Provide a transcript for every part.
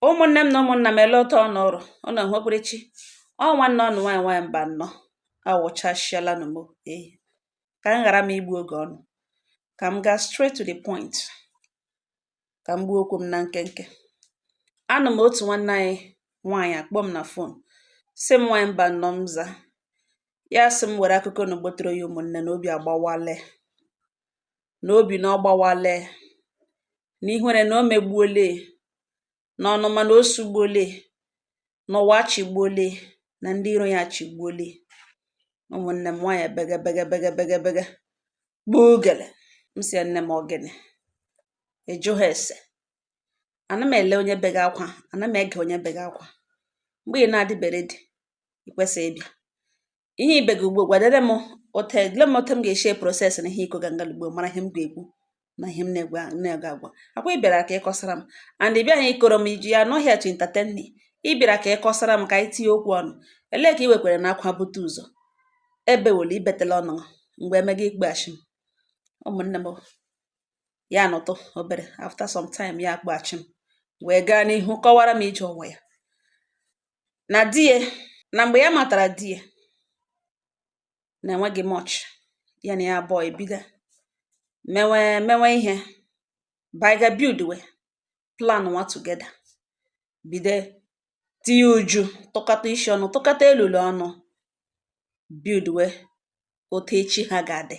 ụmụnne m na ụmụnna m ele otu ụnụ ọrụ ụnụ hụkwere chi ọ nwanne ụnụ nwaanyị nwaanyị mbanọ awụchasịala nụ m ehi ka m ghara m igbu oge ụnụ ka m gaa straight to the point ka m gbuo okwu m na nkenke anọ m otu nwanne anyị nwaanyị akpọ m na fon sị m nwaanyị mbanọ m za ya sị m were akụkọ na gbotere ya ụmụnne na obi agbawale na obi na ọ gbawala ya na ihere na o megbuola ya na ọnụma na o sugbuola ya na ụwa achịgbuola ya na ndị iro ya achịgbuola ya ụmụnne m nwaanyị bege bege bege bege bege gbuo ogele m sị ya nne m ọ gịnị ịjụ ha ese ana m ele onye bega akwa ana m ege onye bega akwa mgbe ị na-adịbe ready ị kwesịghị ịbịa ihe i bega ugbo gwadere m ote le m ote m ga-esi proses na ihe ị kọga nga ugbo mara ihe m ga-ekwu na ihe m na-ega agwa ọ kwa ị bịara ka ị kọsara m and ị bịaghị ịkọrọ m iji you're not here to entertain me ị bịara ka ị kọsara m ka anyị tinye okwu ọnụ elee ka ị wekwere na akwa bute ụzọ ebe were i betela ọnụ mgbe emega ị kpọghachi m ụmụnne m ya nọtụ obere after some time ya akpọghachi m wee gaa n'ihu kọwara m ije ụwa ya na di ya na mgbe ya matara di ya na enweghị much ya na ya abụọ ebido mewe mewe ihe baiga buildwe planụwa together bido tinye uju tụkọta isi ọnụ tụkọta elulu ọnụ buildwe otu echi ha ga-adị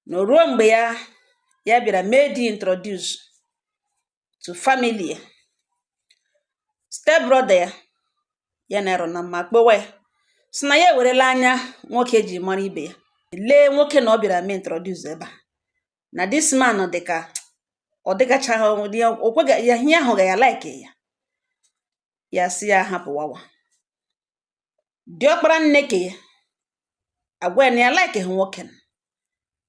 na ruo mgbe ya ya bịara mee di introduce to family ya step brother ya ya na ya rị na mma kpọwa ya sị na ya ewerela anya nwoke ji mara ibe ya lee nwoke na ọ bịara mee introduce ebe a na this man dị ka ọ dịgachaghị onwe dị ya o kweghị ya ihe ahụ ga ya like ya ya sị ya hapụ wawa diọkpara nne ke ya agwa ya na ya laikighị nwoke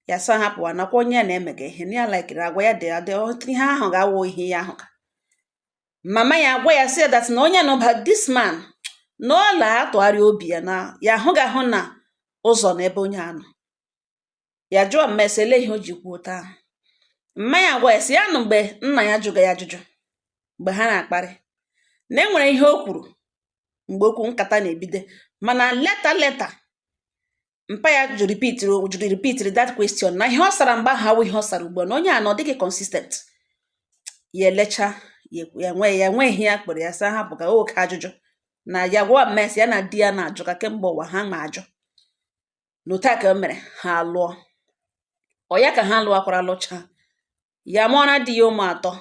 ya sị ya hapụwa na ọ kwa onye ya na-emega ihe na ya laikiri agwa ya dị adị ihe a hụga awụ ihe ya hụga mama ya agwa ya sị that na onye nụba this man na ọ la atụgharị obi ya na ya ahụghị ahụ na ụzọ na ebe onye a nọ ya jụọ mma ya sị ele ihe o ji kwuo otu ahụ mma ya agwa ya sị ya na mgbe nna ya jụga ya ajụjụ mgbe ha na-akparị na e nwere ihe o kwuru mgbe okwu nkata na-ebido mana leta leta mpa ya jụ ripitiri jụrụ ripitiri that question na ihe ọ sara mgbe ahụ awụ ihe ọ sara ugbu a na onye a na ọ dịghị consistent ya elecha ya nwe ya nwe ihe ya kpere ya sị ya hapụ ka oke ajụjụ na ya gwa mma sị ya na di ya na-ajụka kemgbe ụwa ha ma ajụ na otu a ka o mere ha lụọ ọ ya ka ha lụọkwara lụcha ya mụọra di ya ụmụ atọ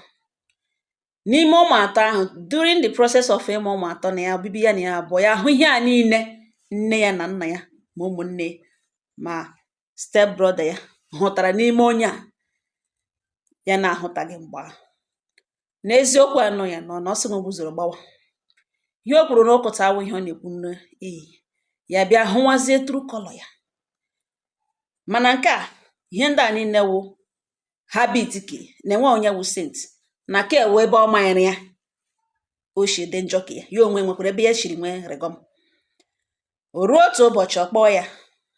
n'ime ụmụ atọ ahụ during the process of ịmụ ụmụ atọ na ya obibi ya na ya abụọ ya ahụ ihe a niile nne ya na nna ya ma ụmụnne ma step brother ya hụtara n'ime onye a ya na-ahụtaghị mgbe ahụ na eziokwu anọ ya nọ na ọ sị na ụgbụzoro gbawa ihe o kwuru na ụkọta awụ ihe ọ na-ekwu n'iyi ya bịa hụwazie true color ya mana nke a ihe ndị a niile wụ habit ke na enwe onye wụ saint na ka e nwe ebe ọ manyere ya o si dị njọ ka ya ya onwe nwekwara ebe ya shiri nwee regọm o ruo otu ụbọchị ọ kpọọ ya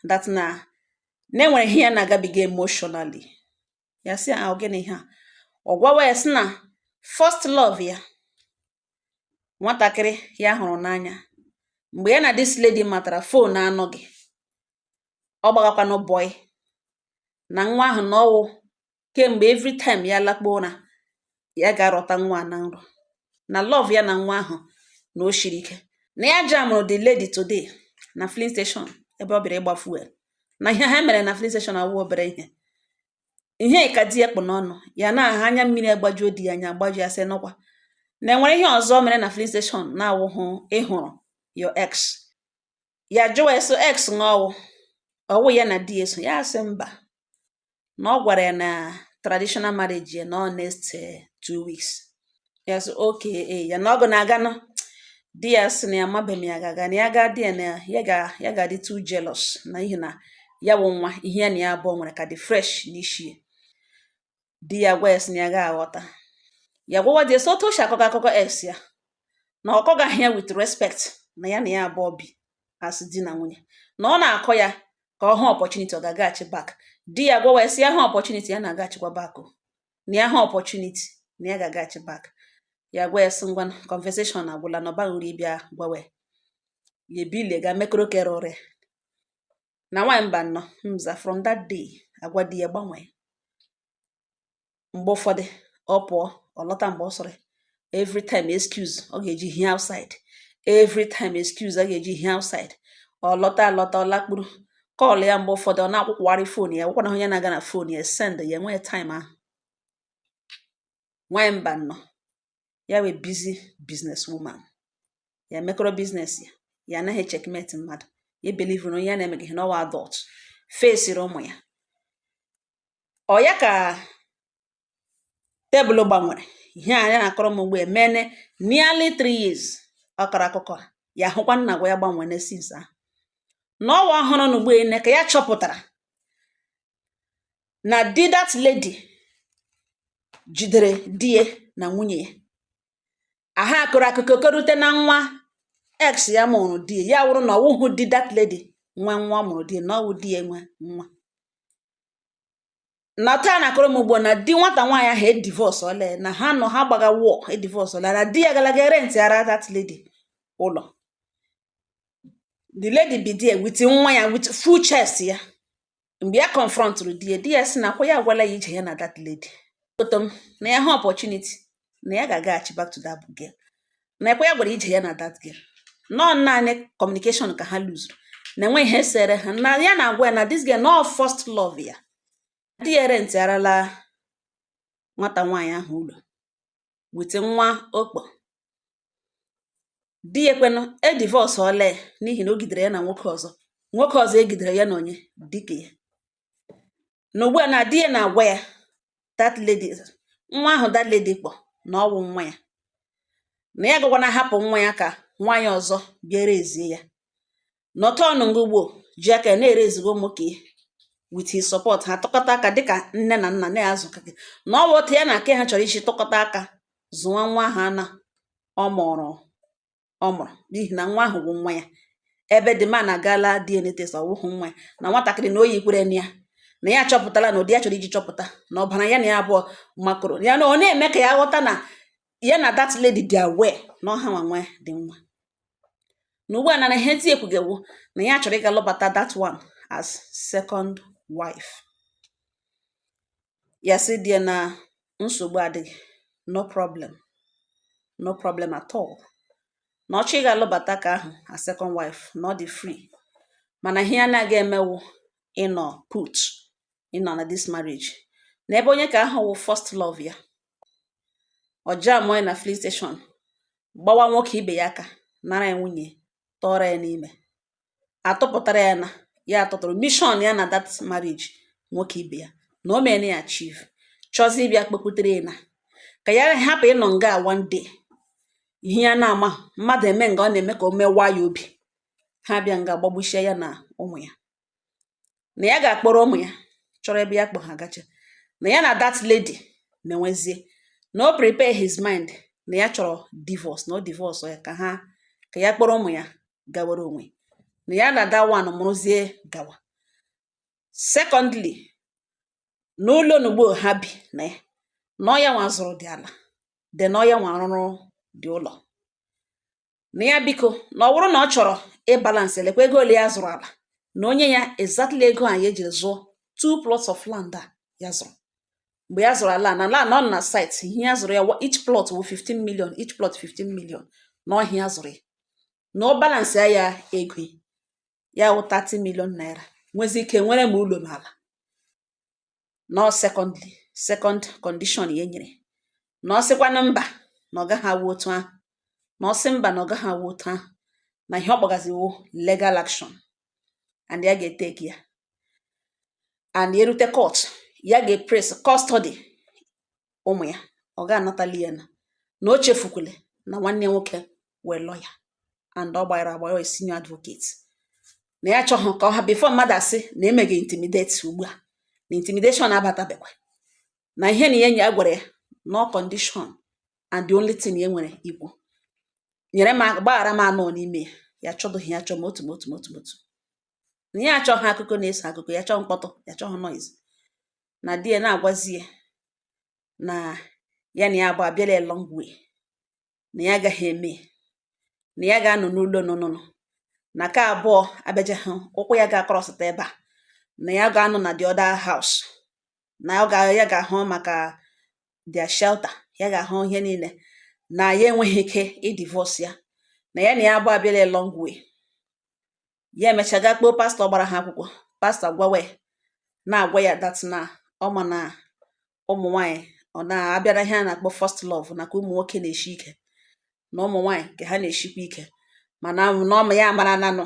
that na e nwere ihe ya na-agabiga emotionally ya sị ah ọ gịnị ihe a ọ gwawa ya sị na first love ya nwatakịrị ya hụrụ n'anya mgbe ya na this lady matara phone anọghị ọ gbagakwanụ bọị na nwa ahụ na ọwụ kemgbe every time ya lakpuo ụra ya ga-arọta nwa na nrọ na love ya na nwa ahụ na o shiri ike na ya jamụrụ the lady today na filling station ebe ọ bịara ịgba fuel na ihe ha mere na filling station awụ obere ihe ihe ka di ya kpụ n'ọnụ ya na aha anya mmiri agbajuo di ya anya agbaju ya sị n'ọkwa na enwere ihe ọzọ mere na filling station na-awụhụ ịhụrụ your ex ya jụwa eso ex ọwụ ọwụ ya na di eso ya asị mba na ọ gwara ya na traditional marriage ya na ọ next two weeks ya sị okay ya na ọ gụ na-aga nọ di ya sị na ya mabe ma ya ga-aga na ya gaa di ya na ya ga ya ga-adị too jealous n'ihi na ya wụ nwa ihe ya na ya abụọ nwere ka dị fresh n'isi ya di ya gwa ya sị na ya ga-aghọta ya gwawa di ya sị otu o si akọga akụkọ ex ya na ọ kọgaghị ya with respect na ya na ya abụọ bi as di na nwunye na ọ na-akọ ya ka ọ hụ opportunity ọ ga-agaghachi back di ya gwawa ya sị ya hụ opportunity ya na-agaghachikwa back o na ya hụ opportunity na ya ga-agaghachi back ya gwa ya sị ngwa conversation agwụla na ọ baghị uru ịbịa gwawa ya ebile ga mekọrọ kere ọrịa na nwaanyị mbanọ mza from that day agwa di ya gbanwee mgbe ụfọdụ ọ pụọ ọ lọta mgbe ọ sọrọ ya every time excuse ọ ga-eji hie outside every time excuse ọ ga-eji hie outside ọ lọta alọta ọ lakpuru call ya mgbe ụfọdụ ọ na-akwụkwagharị phone ya gwakwana onye na-aga na phone ya send ya enweghị time ahụ nwanyị mbanọ ya wee busy business woman ya mekọrọ business ya ya anaghị checkmate mmadụ ya ebelivuru na onye ya na-emeghị n'ọwụ adult fesiri ụmụ ya ọ̀ ya kà tebụl gbanwèrè ihe à ya nà-àkọrọ m ùgbua èmene nearly three years ọ kọrọ akụkọ à yà hụkwa na àgwà ya gbanwène since ahụ na ọwa ọhụrụ na ugbu ene ka ya chọpụtara na di that lady jidere di ya na nwunye ya aha akọrọ akụkọ kọrute na nwa ex ya mụrụ di ya wụrụ na ọ wụhụ di that lady nwe nwa mụrụ di na ọ wụ di ya nwe nwa na taa na-akọrọ m ugbu a na di nwata nwaanyị ahụ edivọsọla na ha nọ ha gbaga wọ edivọsọla na di ya galaga rentịara that lady ụlọ the lady bi there with nwa ya with full chest ya mgbe ya confrontụrụ di ya di ya sị na ọ kwa ya agwala ya ije ya na that lady foto m na ya ha opportunity na ya ga-agaghachi back to that girl na ọ kwa ya gwara ije ya na that girl na ọ naanị communication ka ha luzuru na enwe ihe sere ha na ya na-agwa ya na this girl na ọ first love ya di ya rentịarala nwata nwaanyị ahụ ụlọ with nwa ọ kpọ di ya kwanụ edivọsọla ya n'ihi na o gidere ya na nwoke ọzọ nwoke ọzọ e gidere ya na onye di ke ya na ugbu a na di ya na-agwa ya that lady nwa ahụ that lady kpọ na ọ wụ nwa ya na ya gakwanụ ahapụ nwa ya ka nwaanyị ọzọ bịa raisie ya nọtọn ngụgbo ji aka ya na-ere ezigbo ụmụ ka ihe with his support ha tụkọta aka dịka nne na nna na-azụ ka gị na ọ bụ otu ya na ka ahụ chọrọ iji tụkọta aka zụwa nwa ha na ọ mụrụ ọ mụrụ n'ihi na nwa ahụ bụ nwa ya ebe the man agala DNA test ọ bụghị nwa ya na nwatakịrị na o yikwara na ya na ya chọpụtala na ụdị ya chọrọ iji chọpụta na ọbara ya na ya abụọ makọrọ ya na ọ na-eme ka ya ghọta na ya na that lady dị aware na ọ ha nwa nwedị nwa na ugbu a na ihe di ya kwuga wụ na ya chọrọ ịga lụbata that one as second wife ya sị di ya na nsogbu adịghị no problem no problem at all na ọ chọọ ịga lụbata ka ahụ as second wife na ọ dị free mana ihe ya na-agaghị eme wụ ịnọ put ịnọ na this marriage na ebe onye ka ahụ wụ first love ya ọ jaa mụọ ya na filling station gbawa nwoke ibe ya aka nara ya nwunye tọọrọ ya n'ime atụpụtara ya na ya atụtụrụ mission ya na that marriage nwoke ibe ya na o mere ya achieve chọzi ịbịa kpekwutere ya na ka ya hapụ ịnọ nga one day ihe ya na-ama mmadụ eme nga ọ na-eme ka o mewaa ya obi ha bịa nga gbagbuchie ya na ụmụ ya na ya ga-akpọrọ ụmụ ya chọrọ ebe ya kpọ ha gacha na ya na that lady menwezie na o prepare his mind na ya chọrọ divorce na o divorce ya ka ha ka ya kpọrọ ụmụ ya gawara onwe na ya na that one mụrụzie gawa secondly na ụlọ n'ugbo ha bi na ya na ọ ya nwa zụrụ dị ala then na ọ ya nwa rụrụ dị ụlọ na ya biko na ọ bụrụ na ọ chọrọ ịbalansị elekwa ego ole ya zụrụ ala na o nye ya exactly ego a ya jiri zụọ two plots of land a ya zụrụ mgbe ya zụrụ ala na ala na ọ na site ihe ya zụrụ ya each plot wụ 15 million each plot 15 million na ọ ihe ya zụrụ ya na ọ balansị ya ego ya wụ 30 million naira nwezi ike nwere ma ụlọ ma ala nọ secondly second condition ya nyere na ọ sịkwanụ mba na ọ gaghị awụ otu ahụ na ọ sị mba na ọ gaghị awụ otu ahụ na ihe ọ kpọgazi wụ legal action and ya ga-eteki ya and erute court ya ga-epres custody ụmụ ya ọ ga-anatali ya na na o chefukwule na nwanne nwoke wụ lawyer and ọ gbara agba ya senior advocate na ya chọghị ka ọ ha before mmadụ asị na emegha intimidate ugbu a na intimidation abatabekwa na ihe na ihe enyi ya gwara ya na ọ condition and the only thing ya nwere ikwu nyere mgbaghara m anọ n'ime ya ya chọdụghị ya chọ m otu m otu m otu m otu na ya achọghị akụkọ na-eso akụkọ ya chọọ mkpọtụ ya chọghị noise na di ya na-agwazi ya na ya na ya abụọ abịala a long way na ya agaghị eme na ya ga-anọ n'ụlọ nụnụnụ na ka abụọ abịaja hụ ụkwụ ya ga-akọrọsịta ebe a na ya ga-anọ na the other house na ọ ga ya ga-ahụ maka their shelter ya ga-ahụ ihe niile na ya enweghị ike ịdivorce ya na ya na ya abụọ abịala a long way ya emecha gaa kpọọ pastọ gbara ha akwụkwọ pastọ gwawa ya na-agwa ya that na ọ ma na ụmụ nwaanyị ọ na-abịara ihe a na-akpọ first love na nke ụmụ nwoke na-eshi ike na ụmụ nwaanyị nke ha na-eshikwa ike mana na ọ ma ya mara nanụ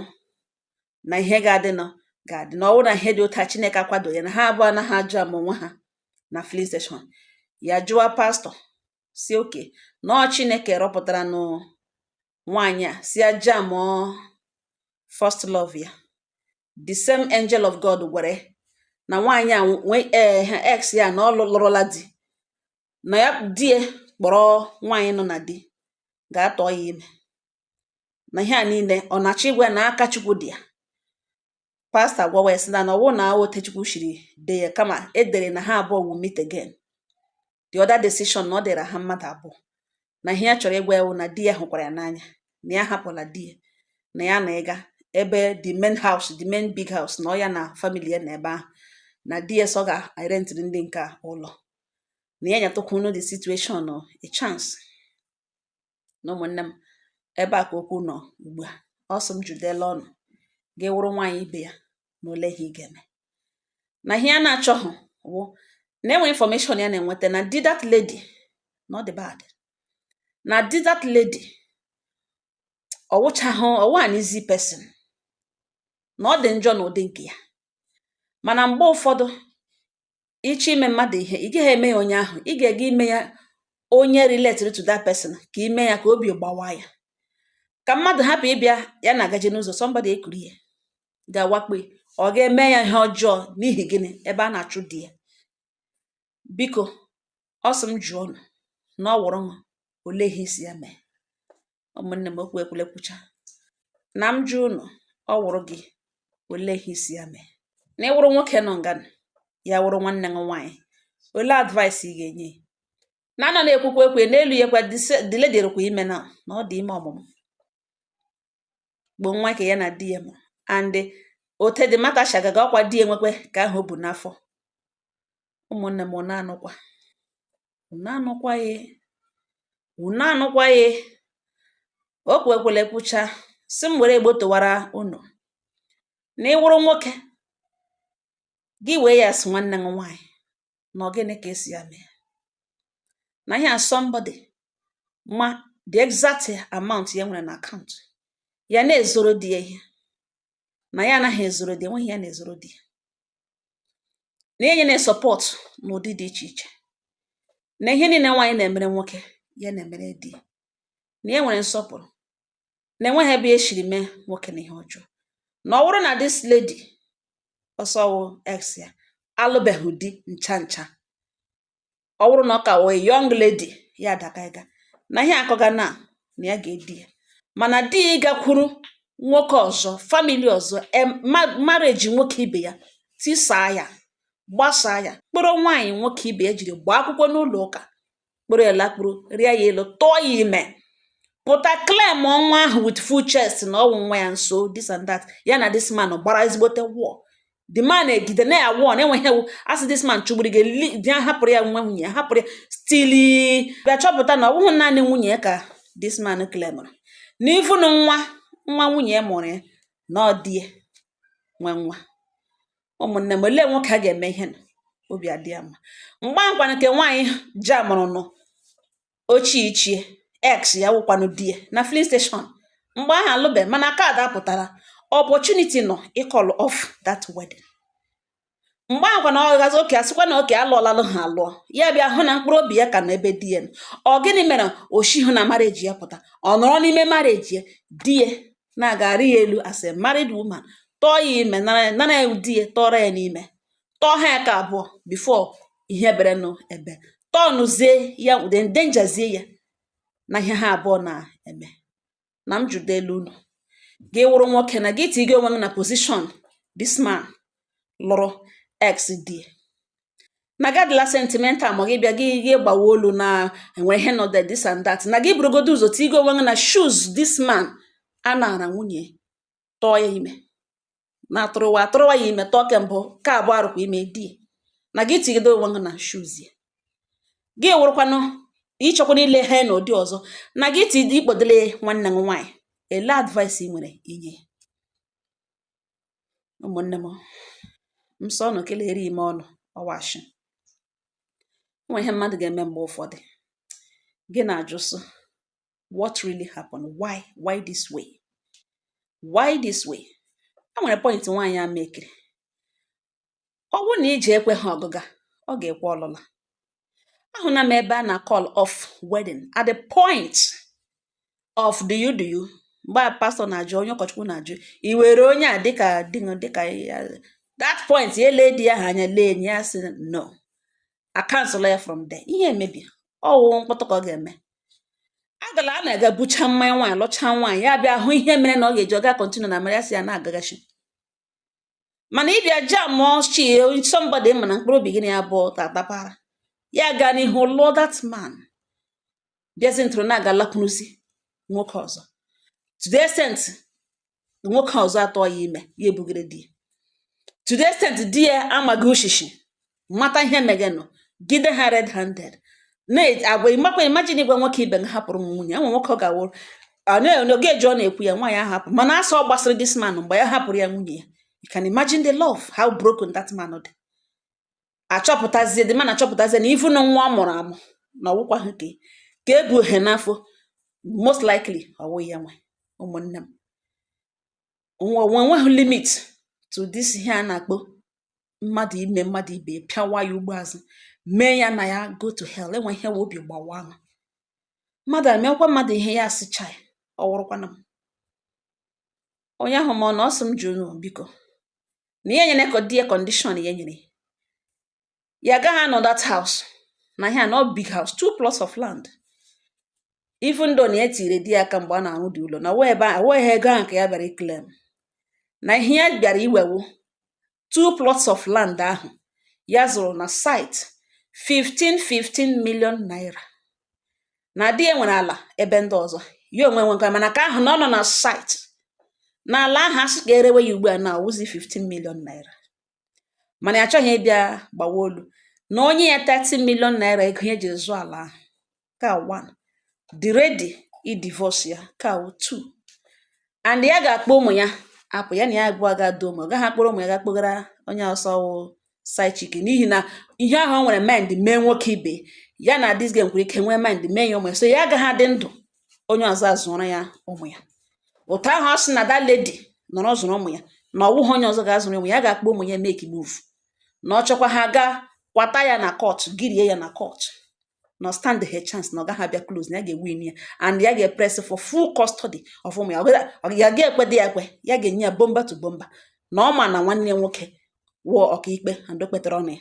na ihe ga-adịnụ ga-adị na ọ wụ na ihe dị otu a Chineke akwado ya na ha abụọ anaghị ajam onwe ha na filling station ya jụwa pastọ sị okay na ọ Chineke rọpụtara nụ nwaanyị a sị ya jamụọ first love ya the same angel of God gwere na nwaanyị a nwee ee eh, ex ya na ọ lụrụla di na ya jee kpọrọ nwaanyị nọ na di gaa tụọ ya ime na ihe a niile ọ na-achọ ịgwa ya na aka Chukwu dị ya pastọ agwawa ya sị na na ọ wụ na ọ otu Chukwu shiri dee ya kama e dere na ha abụọ will meet again the other decision na ọ dịra ha mmadụ abụọ na ihe ya chọrọ ịgwa ya wụ na di ya hụkwara ya n'anya na ya hapụla di ya na ya na ịga ebe the main house the main big house na ọ ya na family ya nọ ebe ahụ na di ya sị ọ ga-erentịrị ndị nke a ụlọ na ya nyetụkwanụ the situation a chance na ụmụnne m ebe a ka okwu nọ ugbu a ọ sị m jụdịla unu gị wụrụ nwaanyị ibe ya na ole ihe ị ga-eme na ihe ya na-achọghị wụ na enwe information ya na-enweta na di that lady na ọ dị bad na di that lady ọ wụchahụ ọwụ an easy person na ọ dị njọ na ụdị nke ya mana mgbe ụfọdụ ị chọọ ime mmadụ ihe ị gaghị eme ya onye ahụ ị ga-ega ime ya onye related to that person ka i mee ya ka obi gbawa ya ka mmadụ hapụ ịbịa ya na-agaje n'ụzọ somebody ekuru ihe ga-awakpo ya ọ ga-eme ya ihe ọjọọ n'ihi gịnị ebe a na-achụ di ya biko ọ sị m jụọ unu na ọ wụrụ unu olee ihe ị sị ya mee ụmụnne m okwu ekwule kwucha na m jụọ ụnụ ọ wụrụ gị olee ihe ị sị ya mee na ị wụrụ nwoke nọ nga ya wụrụ nwanne gị nwaanyị olee advice ị ga-enye ya na a nọ na-ekwukwa ekwu n'elu ya kwa the lady dịkwa ime na na ọ dị ime ọmụmụ bụ nwa nke ya na di ya mụ and otu the matter shi aga aga ọkwa di ya nwekwe nke ahụ o bu n'afọ ụmụnne m ụnụ anụkwa unu anụkwa ya unu anụkwa ya okwu ekwule kwucha sị m were Igbo tọwara unu na ị wụrụ nwoke gị wee ya sị nwanne gị nwaanyị na ọ gịnị ka ị sị ya mee na ihe a somebody ma the exact amount ya nwere na account ya na-ezoro di ya ihe na ya anaghị ezoro di enweghị ihe ya na-ezoro di ya na enye na support n'ụdị dị iche iche na ihe niile nwaanyị na-emere nwoke ya na-emere di na ya nwere nsọpụrụ na enweghị ebe ya siri mee nwoke na ihe ọjọọ na ọ bụrụ na this lady ọ sị wụ ex ya alụbeghị di ncha ncha ọ bụrụ na ọ ka wụ a young lady ya adị ka ịga na ihe akọga na na ya ga-edi ya mana di ya ịgakwuru nwoke ọzọ family ọzọ marriage nwoke ibe ya tisaa ya gbasaa ya kpọrọ nwaanyị nwoke ibe ya jiri gbaa akwụkwọ n'ụlọ ụka kpọrọ ya lakpuru rịa ya elu tụọ ya ime pụta claimụọ nwa ahụ with full chest na ọ wụ nwa ya nso this and that ya na this man gbara ezigbote war the man egide na ya war enweghị ihe wụ asị this man chụgburu gị li- di ya hapụrụ ya nwa nwunye ya hapụrụ ya still bịa chọpụta na ọ bụghị naanị nwunye ya ka this man claimụrụ na even nwa nwa nwunye ya mụrụ ya na ọ di ya nwe nwa ụmụnne m olee nwoke a ga-eme ihe nụ? obi adị ya mma mgbe ahụ kwanụ nke nwaanyị jamụrụ nụ ochie ichie ex ya wụkwanụ di ya na filling station mgbe ahụ alụbe mana kaadị apụtara opportunity nọ ịcall off that wedding mgbe ahụ kwana ọ gazi okay a sịkwa na okay alụọlalụ ha alụọ ya bịa hụ na mkpụrụ obi ya ka nọ ebe di ya nọ. ọ gịnị mere o shihụ na marriage ya pụta ọ nọrọ n'ime marriage ya di ya na-agarị ya elu as a married woman tọọ ya ime nara nara ya di ya tọrọ ya n'ime tọọ ha ya ke abụọ before ihe bere nụ ebe tọnụzie ya ụdị endangerzie ya na ihe ha abụọ na-eme na m jụdele unu gị wụrụ nwoke na gị tigi onwe gị na position this man lụrụ ex di na gị adịla sentimental ma gị bịa gị gị gbawa olu na enwe ihe nọ there this and that na gị burugodo ụzọ tigi onwe gị na shoes this man a naara nwunye tọọ ya ime na atụrụwa atụrụwa ya ime tọọ ke mbụ ke abụọ arụkwa ime di na gị tigide onwe gị na shoes ya gị wụrụkwanụ ị chọkwanụ ile ha na ụdị ọzọ na gị ti ị kpọdele nwanne m nwaanyị elee advice ị nwere inye ya ụmụnne m nsọ ọnụ kelere ime ọnụ ọ wụ ashị nwe ihe mmadụ ga-eme mgbe ụfọdụ gị na-ajụ sị what really happened why why this way why this way e nwere point nwaanyị a mekiri ọ bụrụ na ije ekweha ọgụga ọ ga-ekwe ọlụla ahụna m ebe a na call off wedding at the point of do you do you mgbe a pastor na-ajụ onye ụkọchukwu na-ajụ i were onye a dịka dịka that point ya ele di ya ahụ anya lee enyi ya sị no a cancel ya from there ihe emebie ọ wụ mkpọtụ ka ọ ga-eme agala a na-aga bucha mmanya nwaanyị lụcha nwaanyị ya bịa hụ ihe mere na ọ ga-eji ọ ga continue na marriage sị ya na-agagachi mana ịbịa jam ochie somebody ma na mkpụrụ obi gị na ya bụ tatapara ya gaa n'ihu lụọ that man bịazi ntụrụ na-aga lakwuruzi nwoke ọzọ to the extent nwoke ọzọ atọ ya ime ya ebugere di ya to the extent di ya amaghị o shi shi mata ihe megenụ gide ha red handed na-agwa ịmakwa imagine ịgwa nwoke ibe na hapụrụ m nwunye enwe nwoke ọ ga-awụrụ oge eji ọ na-ekwu ya nwaanyị ahụ hapụ mana as ọ gbasịrị this man mgbe ya hapụrụ ya nwunye ya you can imagine the love how broken that man dị achọpụtazie the man achọpụtazie na even na nwa ọ mụrụ amụ na ọwụkwa ha ka ka ebu ohe n'afọ most likely ọwụ ya nwe ụmụnne m nwe nweghị limit to this ihe a na-akpọ mmadụ ime mmadụ ibe pịawa ya ugbo azụ mee ya na ya go to hell enwe ihe we obi gbawa ahụ mmadụ emekwa mmadụ ihe ya asịcha ya ọ wụrụkwana m onye ahụ ma ọ na ọ sị m jụọ unu biko na ya nyere di ya condition ya nyere ya agaghị anọ that house na ihe a nọ big house two plots of land even though na ya tiri di ya aka mgbe a na-arụ dị ụlọ na ọwụghị ego ahụ ka ya bịara iclaim na ihe ya bịara iwe wụ two plots of land ahụ ya zụrụ na site 15 15 million naira na di ya nwere ala ebe ndị ọzọ ya onwe nwekwa mana nke ahụ na ọ nọ na site na ala ahụ asị ka erewe ya ugbu a na awụzi 15 million naira mana ya achọghị ịbịa gbawa olu na o nye ya 30 million naira ego ya ji zụọ ala ahụ ka one dị ready idivorce ya ka two and ya ga-akpọ ụmụ ya apụ ya na ya abụọ ga-adọ ụmụ ọ gaghị akpọrọ ụmụ ya ga-akpọgara onye ọ sị wụ side chick n'ihi na ihe ahụ o nwere mind mee nwoke ibe ya na this game nwere ike nwee mind mee ya ụmụ ya so ya agaghị adị ndụ onye ọzọ azụọrọ ya ụmụ ya otu ahụ ọ sị na that lady nọrọ zụrụ ụmụ ya na ọ bụghị onye ọzọ ga-azụrụ ụmụ ya ga-akpọ ụmụ ya make move na ọ chọkwa ha gaa kwata ya na court girie ya na court na ọ standghị chance na ọ gaghị abịa close na ya ga-ewin ya and ya ga-epress for full custody of ụmụ ya ya ga-ekwe di ya ekwe ya ga-enye ya bumper to bumper na ọ ma na nwanne ya nwoke wụ ọkaikpe and o kpetara ọnụ ya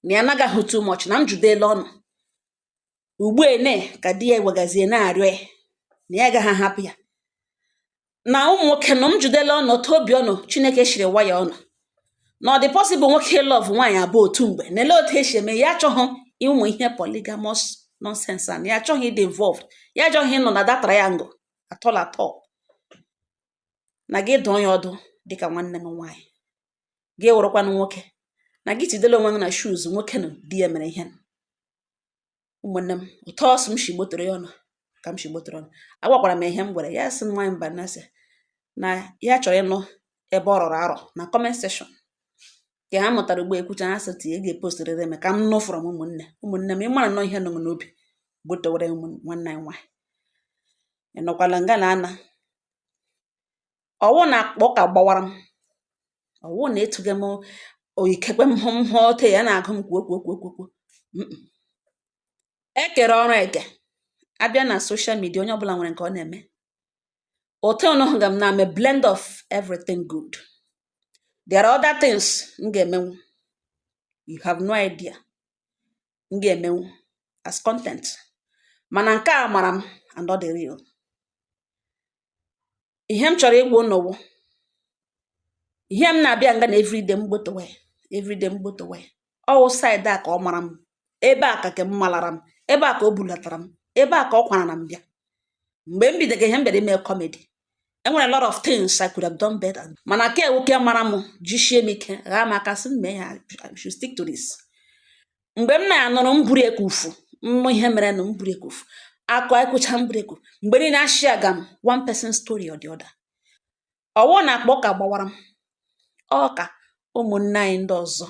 na ya anaghị ahụ too much na m jụdela ọnụ ugbene ka di ya wegazie na-arịọ ya na ya agaghị ahapụ ya na ụmụ nwoke nọ m jụdela ọnụ otu obi ọnụ chineke shiri wire ọnụ na ọ dị possible nwoke love nwaanyị abụọ otu mgbe na ele otu esi eme ya achọghị ịmụ ihe polygamous nonsense a ya achọghị ịdị involved ya achọghị ịnọ na that triangle at all at all na gị dụọ ya ọdụ dịka nwanne m nwaanyị gị wụrụkwanụ nwoke na gị tidela onwe gị na shoes nwoke na di ya mere ihe ụmụnne m otu ọ sị m shi gbotoro ya ọnụ ka m shi gbotoro ọnụ agwakwara m ihe m gwara ya sị nwaanyị mba na sị na ya chọrọ ịnụ ebe ọ rọrọ arọ na comment section ka ha mụtara ugbo ekwucha ha sị tinye ga-epostirịrị m ka m nụ from ụmụnne ụmụnne m ịmara nọ ihe nọ n'obi gbotowere nwanne anyị nwaanyị ịnọkwala nga na ana ọwụ na akpa ụka gbawara m ọwụ na etughị m oyikekwe m hụ m hụ ote ya na-agụ m kwuo kwuo kwuo kwuo kwuo e kere ọrụ eke abịa na social media onye ọbụla nwere nke ọ na-eme ote unu hụ ga m na-ame blend of everything good there are other things m ga-emenwu you have no idea m ga-emenwu as content mana nke a mara m and ọ dị real ihe m chọrọ ịgwa unu wụ ihe m na-abịa nga na everyday m gbotowe everyday m gbotowe ọwụ side a ka ọ mara m ebe a ka ke m malara m ebe a ka o bulatara m ebe a ka ọ kwarara m bịa mgbe m bidoro ihe m bịara ime comedy enwere lot of things I could have done better mana ke a wụ ke mara m jisie m ike ghaa m aka sị m mee ya I should stick to this mgbe m na-anụrụ m buru ekufu mmụ ihe mere na m buru ekufu akụ akwụcha m buru ekufu mgbe niile ashia ga m one person story or the other ọwụ na akpa ụka gbawara m ọ ka ụmụnne anyị ndị ọzọ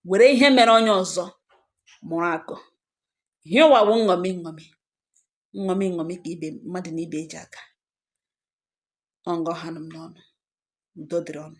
were ihe mere onye ọzọ mụrụ akọ ihe ụwa wụ nṅomi nṅomi nṅomi nṅomi ka ibe mmadụ na ibe eji aka ọ nga ọ hanụ m n'ọnụ udo dịrị unu